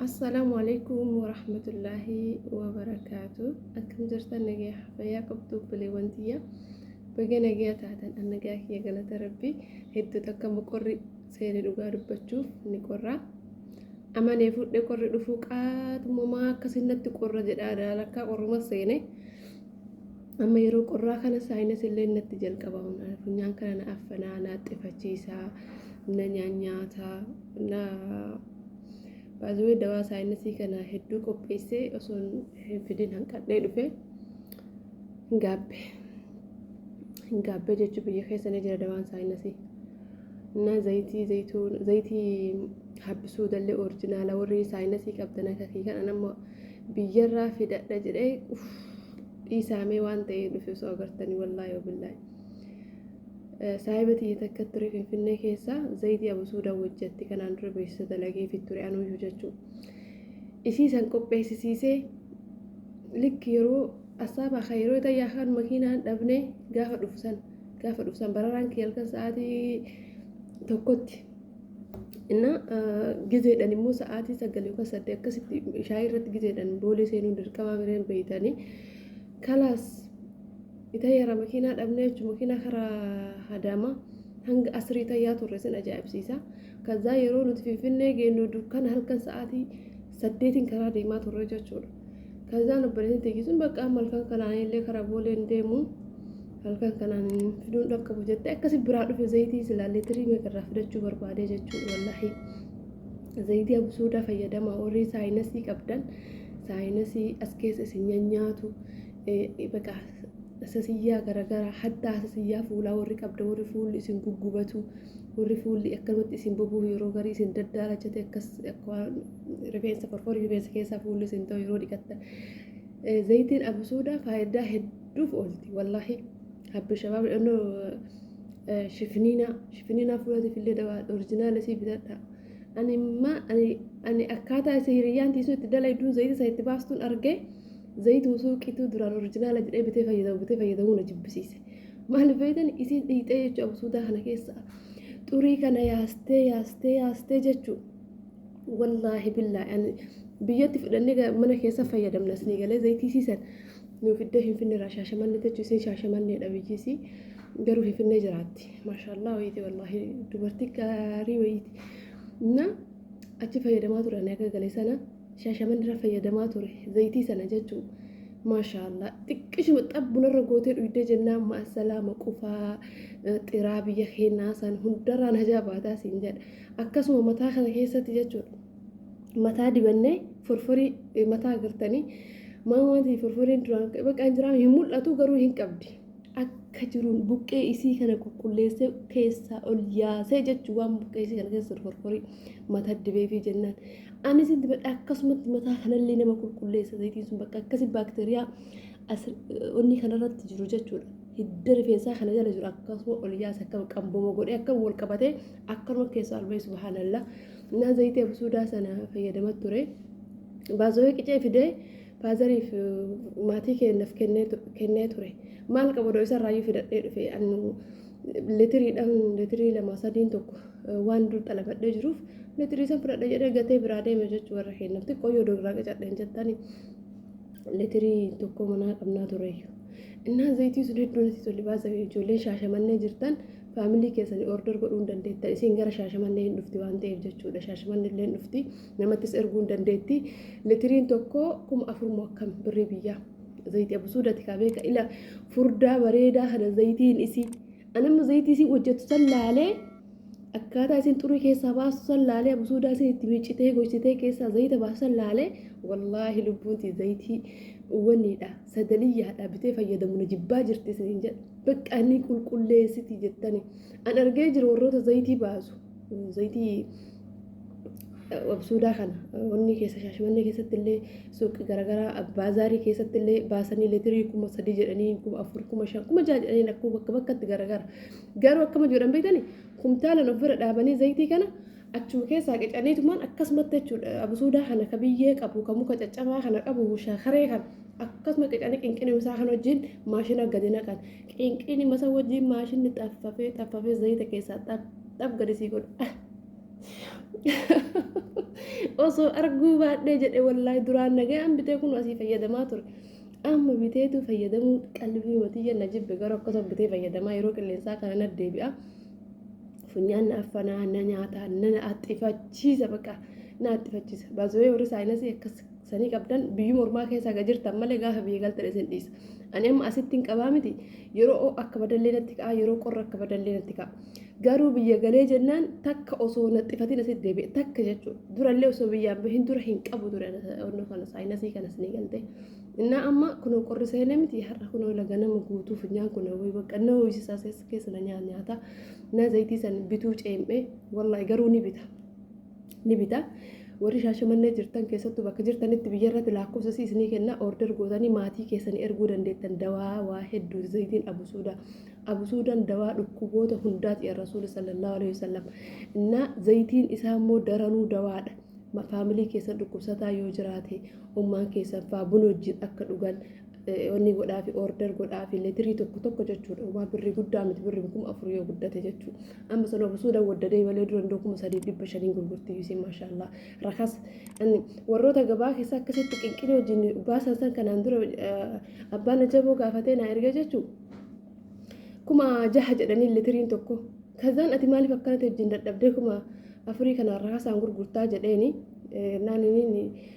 Assalaamu alaikum warahmatullaahi wabarakaatu akkam jirtan nagaya fayyaa qabdu obboleewwan tiyya baga nagaya taatan an nagaa kiyya galata rabbi hedduu takka moqorri seene dhugaa dubbachuuf ni qorra amanee fudhe qorri dhufuu qaatumamaa akkasinnatti qorra jedhaa daalakkaa qorruma seene Amma yeroo qorraa kana saayinas illee natti jalqaba funyaan kana na affanaa na axxifachiisa na nyaanyaata na baazawee dawaa saayinasii kana hedduu qopheessee osoo hin fidin hanqadhee dhufe hin gaabbe hin gaabbe jechuu biyya keessa ni jira dawaan saayinasii na zayitii zayituu zayitii habbisuu dallee orijinaala warri saayinasii qabdan akka kiyya kana amma biyyarraa fidadha jedhee uf dhiisaamee waan ta'ee dhufe osoo agartanii wallaahi wabillaahi saahiba tiyya takka ture finfinnee keessa zayitii abusuudaa wajjatti kanaan dura beeksisa dalageefi ture anuuyyuu jechuu isii san qopheessisiisee likki yeroo asaabaa kan yeroo ta'e yaakaan makiinaan dhabnee gaafa dhufsan gaafa dhufsan bararaan kiyya halkan sa'aatii tokkotti እና ጊዜedhan immoo sa'aatii sagal yookaan saddeet akkasitti shaayii irratti ጊዜedhan boolee seenuun dirqamaa bireen beeytanii kalaas itayyaara makiinaa dhabnee jechuun makiinaa karaa hadaama hanga asrii tayyaa turre sin ajaa'ibsiisa kazaa yeroo nuti finfinnee geennu dukkan halkan sa'aatii saddeetiin karaa deemaa turre jechuudha. Kazaan obboleettiin tiyyi sun bakka amma halkan kanaan illee karaa boolee hin deemu halkan kanaan fiduun dhaqqabu jette akkasi biraa dhufe zayitii silaa leetirii meeqa irraa fidachuu barbaadee jechuudha wallaahi. Zayitii absuudaa fayyadamaa warri saayinasii qabdan saayinasii as keessa isin nyaanyaatu baqa Hasasiyyaa garagaraa, haddaa hasasiyyaa fuulaa warri qabdan, warri fuulli isin guggubatu, warri fuulli akkanumatti isin bobohu yeroo garii isin daddaalachate akkas akka waan rifeensa forforii rifeensa keessaa fuulli isin ta'u yeroo dhiqattan. Eh, Zayitiin abasuudaa faayidaa hedduuf oolti wallaahi. Habbi shabaab dhannoo eh, shifiniinaa shifiniinaa fuulatiif illee dawaa orijinaala isii bitadha. Ani imma ani ani akkaataa isa hiriyyaan tiisuu itti dalayduun zayita isa itti baastuun argee. Zayituma suuqiitu duraan orijinaala jedhee bitee fayyadamu bitee fayyadamuu na jibbisiise. Maaliif beektan isiin dhiitee jechuudha absuudaa kana keessa. Xurii kana yaastee yaastee yaastee jechuu. Wallaahi billaahi ani biyyatti fudhannee ga- mana keessa fayyadamna isinii galee zayitii siisan nuuf iddoo hin finne irraa shaashamannee jechuun isin shaashamanneedha biyyiisii garuu hin finnee jiraatti. Maashaallaa wayiiti wallaahi dubartii gaarii wayiiti. Na achi fayyadamaa turan akka galee sana. Shaashaman irra fayyadamaa ture zayitii sana jechuu maashaallah xiqqishuma xabbunarra gootee dhuydee jennaan maasalaama qufaa xiraa biyya keenyaa san hundarraan hajaa baataa siin jedha akkasuma mataa kana keessatti jechuudha mataa dibannee forforii mataa agartanii maa wanti forforiin duraan baqaan jiraa hin mul'atu garuu hin qabdi. akka jiruun buqqee isii kana qulqulleessee keessaa ol yaasee jechuun waan buqqee isii kana keessa horkorii mataa dibeefii jennaan. Anis itti badhe akkasumatti mataa kanallee nama qulqulleessa zayitiin sun bakka akkasi baakteeriyaa onnii kanarratti jiru jechuudha. Hidda rifeensaa kana jala jiru akkasuma ol yaasa akka qamboma godhee akka wal qabatee akkanuma keessaa ol bahee subhaanallah. Naa zayitii absuudaa sana fayyadama ture. Baazooyee qicee fidee Faazariif maatii kee naf kennee tu- kennee ture. Maal qaba odoo isa irraayyuu fidadhee dhufe annu litiriidhaan litirii lama sadiin tokko eh, waan dur xalabadhee jiruuf litirii san fudhadha jedhee gatee biraa deeme jechuu warra keenyaaf xiqqoo yoo dograa qacadhe hin jettani litirii tokko manaa qabnaa tureeyyu. Innaan zayitii sun hedduu natti tole baasame ijoolleen shaashamannee jirtan faamilii keessanii order godhuu hin dandeettan isin gara shaashamannee hin dhufti waan ta'eef jechuudha shaashamannee illee hin dhufti. Namattis erguun dandeetti. Litiriin tokko kuma afur moo akkam birrii biyyaa. Zayitii abusuudati kaa beeka ila furdaa bareedaa kana zayitiin isii. Anamma zayitii isii hojjettu san laalee akkaataa isin xurii keessaa baastu san laalee abusuudaa isin itti miicitee goysitee keessaa zayita baastu san laalee wallaahi lubbuunti zayitii waniidha sagaliyyaadha bitee fayyadamu na jibbaa jirti isiniin jedha. Bakka inni qulqulleessiti jettani. An argee jiru warroota zayitii baasu. Zayitii absuudaa kana wanni keessa shaashmannee keessatti illee suuqii garaagaraa baazaarii keessatti illee baasanii leetirii kuma sadii jedhanii kuma afur kuma shan kuma jaha jedhanii lakkuu bakka bakkatti garaagara. Garuu akkama jedhan beektani kumtaalan of bira dhaabanii zayitii kana achuma keessaa qicaniitumaan akkasumatti jechuudha absuudaa kana ka biyyee qabu ka muka caccabaa kana qabu shaakaree kana akkasuma qicanii qinqinimsaa kan wajjin maashina gadi naqan. Qinqiini masa wajjiin maashinni xaffafee xaffafee zayita keessaa xaf xaf gadi sii godha. Osoo arguu baadhee jedhe wallaahi duraan nagaan bitee kun asii fayyadamaa ture. Amma biteetu fayyadamuu qalbii matiyya na jibbe garuu akkasuma bitee fayyadamaa yeroo qilleensaa kana na deebi'a. Funyaan na affanaa na nyaataa na axxifachiisa baqa na axxifachiisa. Baasawee warri saayinasii akkas sanii qabdan biyyuma ormaa keessa haga jirtan malee gaafa biyya galtan isin dhiisa. Ani amma asitti hin qabaa miti yeroo oo akka badallee natti ka'a yeroo qorra akka badallee natti ka'a. Garuu biyya galee jennaan takka osoo naxxifatiin asitti deebi'e takka jechuudha. Durallee osoo biyyaan bahin dura hin qabu ture onnoo kana saayinasii kanas ni galte. Innaa amma kunoo qorri seenee miti har'a kunoo laga nama guutuu funyaan kun wayii bakka na ho'isisaa keessa na nyaata. Na zayitii san bituu ceem'ee wallaahi garuu ni bita. ni bita. Warri Shaashamannee jirtan keessattuu bakka jirtanitti biyya irratti laakkofsa isii isinii kenna order gootanii maatii keessanii erguu dandeettan dawaa waa hedduuti zayitiin abusuuda. Abusuudaan dawaa dhukkuboota hundaati ya Rasuuli sallallahu alaihi wasallam. Innaa zayitiin isaa immoo daranuu dawaadha. Ma- Faamilii keessan dhukkubsataa yoo jiraate ummaan keessan faa buna wajjin akka dhugan Onni godhaafi order godhaafi letirii tokko tokko jechuudha. Waa birri guddaa miti birri kuma afur yoo guddate jechuu. Amma sana of suuda waddadee malee dura hundoo kuma sadiif dhibba shaniin gurgurti yuusiin maashaallaa. Rakas warroota gabaa keessa akkasitti qinqinii wajjin baasan san kanaan dura abbaan ajaboo gaafatee naa erga jechuu. Kuma jaha jedhanii litiriin tokko. Kazaan ati maaliif akkanatti wajjin dadhabdee kuma afurii kanaan rakasaan gurgurtaa jedheeni naaniniin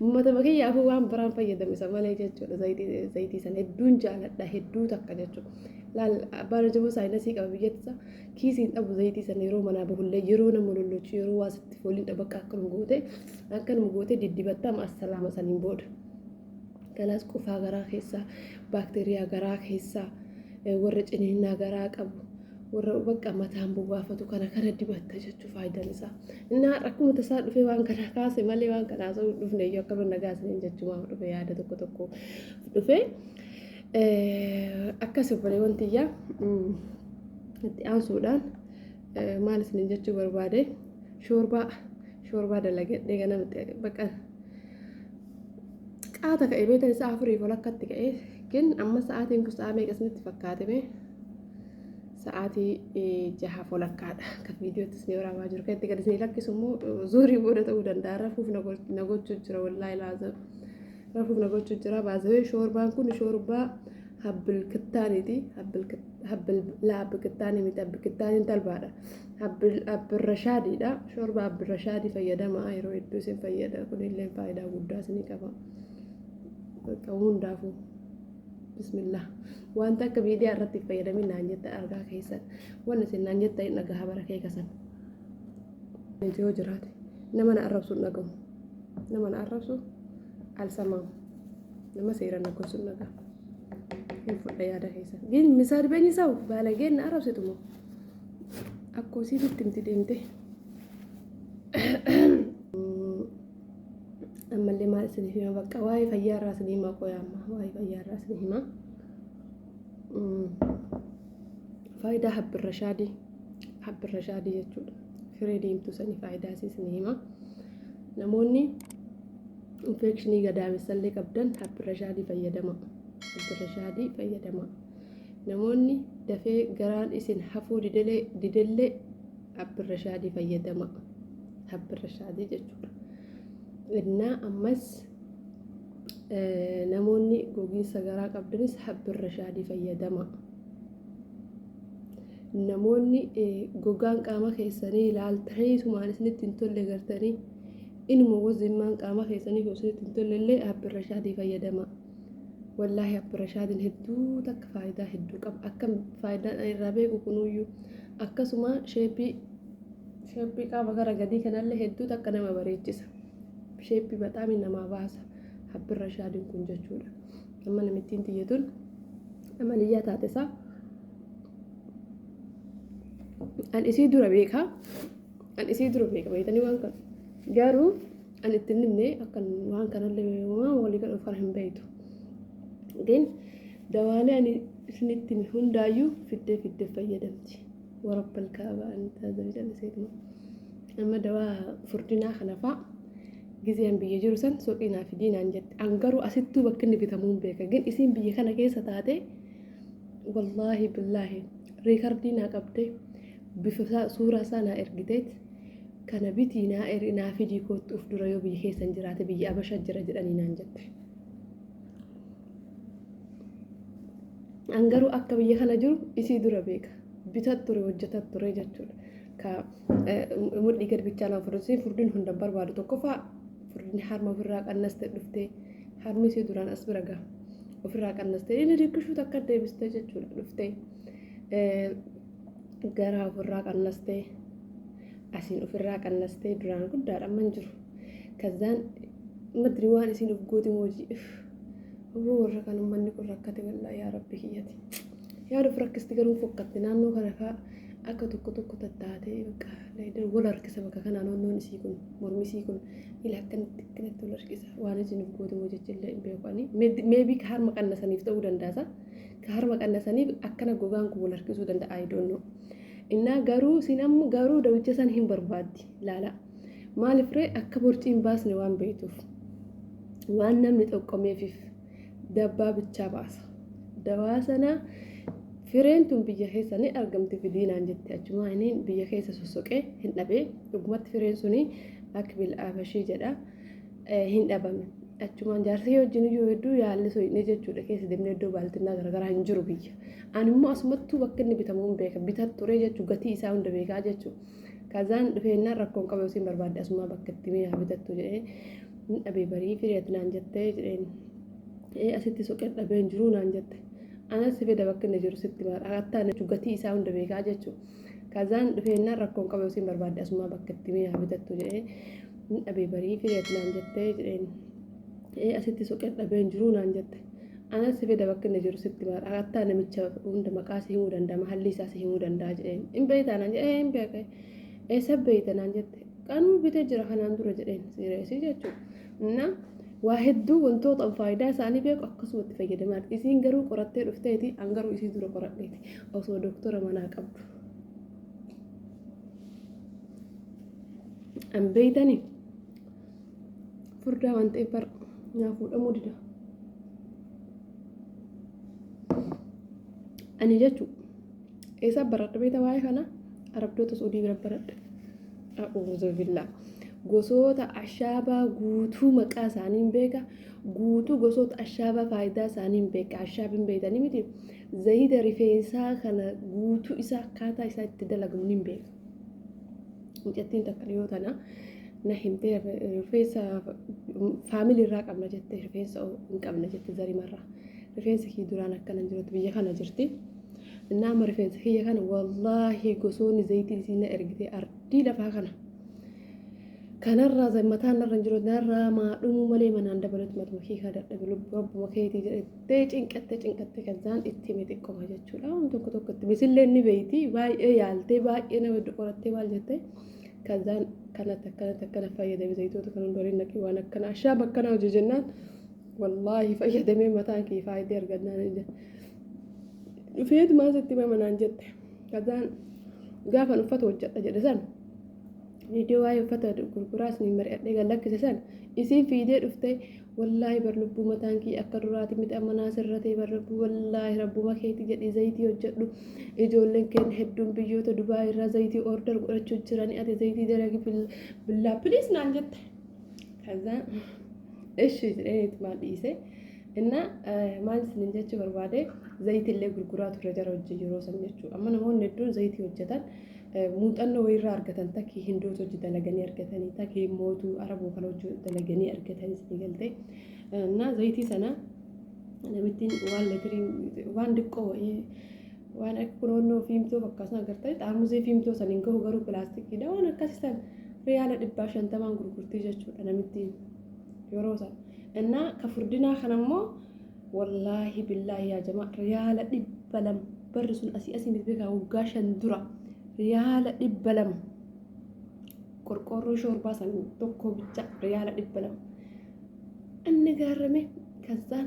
Ummatuma kiyyaafuu waan biraan fayyadamu isa malee jechuudha zayitii sana hedduun jaaladha hedduu takka jechuudha. Laal abbaan hojjaboo saayinasii qaba biyyatti isaa kiisiin dhabu zayitii sana yeroo manaa bahullee yeroo nama lollochu yeroo waa sitti fooliin dhabu akka akkanuma gootee akkanuma gootee diddibattaa amma assalaama saniin booda. Kanaas qufaa garaa keessaa baakteeriyaa garaa keessaa warra ciniinnaa garaa qabu warra bakka mataan bobaafatu kana kana dibatta jechuu faayidaan isaa. Inni har'a akkuma tasaa dhufee waan kana kaase malee waan kana haasa'uu hin dhufne iyyuu akka banna gaasneen jechumaaf dhufe yaada tokko tokko dhufe. Akkas obboleewwan tiyyaa itti aansuudhaan maal isiniin jechuu barbaade shoorbaa shoorbaa dalagadhee ganamatti bakka qaata ka'e beekan isaa afurii ol akkatti ka'e gin amma sa'aatiin kun sa'aa meeqa isinitti fakkaate mee sa'aatii jaha folakkaadha kan viidiyootti isin waraabaa jiru kan itti gadi isin lakkisu immoo zuurii booda ta'uu danda'a rafuuf na gochuu jira wallaahi laazim rafuuf na gochuu jira baazawee shoorbaan kun shoorbaa habbil kittaaniiti habbil laa habbi kittaanii miti habbi kittaaniin talbaadha habbil abbirrashaadiidha shoorbaa abbirrashaadii fayyadamaa yeroo hedduu isin fayyada kunillee faayidaa guddaa isinii qaba bakka hundaafuu. bismillah wanta akka miidiyaa irratti fayyadamin naan jetta argaa keessan wanni isin naan jetta hin dhagaha bara kee kasan nuti yoo jiraate nama na arrabsu hin dhagahu nama na arrabsu alsamaa nama seera na gorsu hin dhagahu hin fudha yaada keessan gin misaal beenyi sawu baalageen na arrabsitu moo akkoo siititti himti deemtee ammallee maal isiniif hima bakka waa'ee fayyaa irraa isin hima qoya amma waa'ee fayyaa irraa isin hima faayidaa habbirra shaadii habbirra shaadii jechuudha firee deemtuu sanii faayidaa isii isin hima namoonni infeekshinii gadaamessallee qabdan habbirra shaadii fayyadama habbirra shaadii fayyadama Namoonni dafee garaan isin hafuu didelee didellee Abdirashaadii fayyadama. Abdirashaadii jechuudha. Innaa ammas namoonni gogiinsa garaa qabdanis Abdirashaadii fayyadama. Namoonni gogaan qaama keessanii ilaaltanii tumaan isinitti hin tolle gartanii inuma wazimmaan qaama keessanii osoo isinitti hin tolle illee Abdirashaadii fayyadama. Wallaahi Abba Rashaadin hedduu takka faayidaa hedduu qaba. Akka faayidaan ani irraa beeku kunuyyuu akkasuma sheeppii sheeppii qaama gara gadii kanallee hedduu takka nama bareechisa. Sheeppii baxaamii namaa baasa. Abbi Rashaadin kun jechuudha. Amma namittiin tiyya tun amaliyyaa taate isaa an isii dura beeka. An isii dura beeka beektanii waan kana. Garuu Ani itti hin himne akkan waan kanallee waan walii galuuf kana hin beektu. Din dawaalee ani isinitti hime hundaayyuu fiddee fiddee fayyadamti. Warabbal kaaba ani taazame calliseetuma. Amma dawaa furdinaa kana fa'a gizeen biyya jiru san suuqii naa fidii naan jette. An garuu asittuu bakka inni bitamuu hin beeka. Gin isiin biyya kana keessa taatee wallaahi billaahi riikardii naa qabdee bifa isaa suuraa isaa naa ergiteet kana bitii naa eri naa fidii koottu uf dura yoo biyya keessan jiraate biyya abasha jira jedhanii naan jette. An garuu akka biyya kana jiru isii dura beeka. Bitat ture hojjetat ture jechuudha. Ka mudhii gad bichaa naan furdisee furdin hunda barbaadu tokkoffaa furdin harma ofirraa qannaste dhuftee harmi isii duraan as bira gaha. Ofirraa qannaste inni diqqishuu takka deebiste jechuudha dhuftee. garaa ofirraa qannastee asiin ofirraa qannastee duraan guddaadha amman jiru kazzaan madri waan isiin of goote moojii Obbo warra kan ummanni kun rakkate wallaa yaa rabbi kiyyati yaada of rakkisti garuu fokkatte naannoo kana faa akka tokko tokko tattaatee bakka leedar wal harkisa bakka kanaa naannoon isii kun mormi isii kun ila akkanatti akkanatti wal harkisa waan isiin of goote moojii illee hin beeku ani meebii harma qannasaniif ta'uu dandaasa. ka harma qannasaniif akkana gogaan kun wal harkisuu danda'a I don't know. Innaa garuu isin ammoo garuu dawicha san hin barbaaddi laala. Maaliif ree akka borcii hin baasne waan beektuuf waan namni xoqqomeefiif dabbaa bichaa baasa. Dawaa sana fireen tun biyya keessa ni argamti fidiinaan jette achumaa inni biyya keessa sossoqee hin dhabee dhugumatti fireen suni akbil abashii jedha. hin dhabame. Achumaan jaarsa yoo wajjin iyyuu hedduu yaalli soyinee jechuudha keessa deemnee iddoo baaltinnaa garagaraa hin jiru biyya. Ani immoo asumattuu bakka inni bitamu hin beeka. Bitaa ture jechuu gatii isaa hunda beekaa jechuu. Kazaan dhufeennaan rakkoon qabu isin barbaadde asumaa bakka itti mee haa bitattu jedhee hin dhabee barii fireet naan jettee jedheen. Ee asitti soqee dhabee hin jiru naan jette. Anas si fida bakka inni jiru sitti maara. Akkataa gatii isaa hunda beekaa jechuu. Kazaan dhufeennaan rakkoon qabu isin barbaadde asumaa bakka itti mi'aa bitattu jedhee hin dhabee barii fideet naan jettee jedheen. Ee asitti soqee dhabeen jiruu naan jette. Anas si fida bakka inni jiru sitti maal akkataa namicha hunda maqaa si himuu danda'a mahallii isaa si himuu danda'a jedheen. Hin beektaa naan jedhee hin beekee. Eessa beekta naan jette. Kanuu bitee jira kanaan dura jedheen siireesii jechuudha. Innaa waa hedduu wantootaan faayidaa isaanii beeku akkasumatti fayyadamaati. Isiin garuu qorattee dhufteeti an garuu isii dura qoradheeti osoo doktora manaa qabdu. An beeytani furdaa waan ta'eef bar naa fuudhamuu dida. Ani jechuudha. Eessa baradha beekta waa'ee kana? Arabdoota Suudii bira baradha. A'uuzu billaa. Gosoota ashaabaa guutuu maqaa isaaniin beeka. Guutuu gosoota ashaabaa faayidaa isaaniin beeka. Ashaabiin beektanii miti. Zayita rifeensaa kana guutuu isaa akkaataa isaa itti dalagamu niin beeka. Mucattiin takka dhiyoo tana na himtee rifeensa faamilii irraa qabna jette rifeensa hin qabna jette zarimarraa. Rifeensi kii duraan akkana hin jirutti biyya kana jirti. Innaa amma rifeensa kiyya kana wallaahi gosoonni zayitii isiin na ergite ardii lafaa kana. Kanarraa za- mataan narra hin jiru narraa maa dhumuu malee manaan dabalatu matuma kee kaa dadhabe lubbu rabbuma keetii jedhattee cinqattee cinqattee kan isaan itti hime xiqqoma jechuudha. Waan tokko tokko itti misillee ni beeyti baay'ee yaaltee baay'ee nama iddoo qorattee maal jettee kan isaan kanatti akkanatti akkana fayyadame zayitoota kan hundu waliin naqee waan akkana ashaaba akkana hojii jennaan Wallaahi fayyadamee mataan kee faayidee argannaan hin jette. Dhufeetu maal sitti himama naan jette. Kazaan gaafan uffata hojjedha jedhe san viidiyoo waa'ee uffata gurguraas ni mari'adhee gad lakkise san isiin fiidee dhufte wallaahi bar lubbuu mataan kee akka duraati miti amma naa sirratee bar lubbuu wallaahi rabbuma keetii jedhii zayitii hojjedhu ijoolleen keen hedduun biyyoota Dubaay irraa zayitii order godhachuu jiranii ati zayitii dalagi billaa piliis naan jette. Kaza ishi jedhee itmaan dhiise. Innaa maal isinin jechuu barbaade zayitillee gurguraa ture jara wajjin yeroo san jechuudha. Amma namoonni hedduun zayitii hojjetan muuxannoo wayirraa argatan takkii hindoota hojii dalaganii argatanii takkii mootuu arabuu kana hojii dalaganii argatanii isin galtee. Innaa zayitii sana namittiin waan letirii waan diqqoo wayii waan akka kunoonnoo fiimtoo fakkaatan agartanii xaarmusii fiimtoo san hin gahu garuu pilaastikiidha waan akkasii sana. Riyaala dhibbaa shantamaan gurgurtii jechuudha namittiin yeroo sana. Innaa ka furdinaa kana immoo wallaahi billaahi yaa jamaa riyaala dhibba lama barri sun asii asii miti beekaa waggaa shan dura riyaala dhibba lama qorqoorroo shoorbaa san tokko bicha riyaala dhibba lama. Inni gaarame kazzaan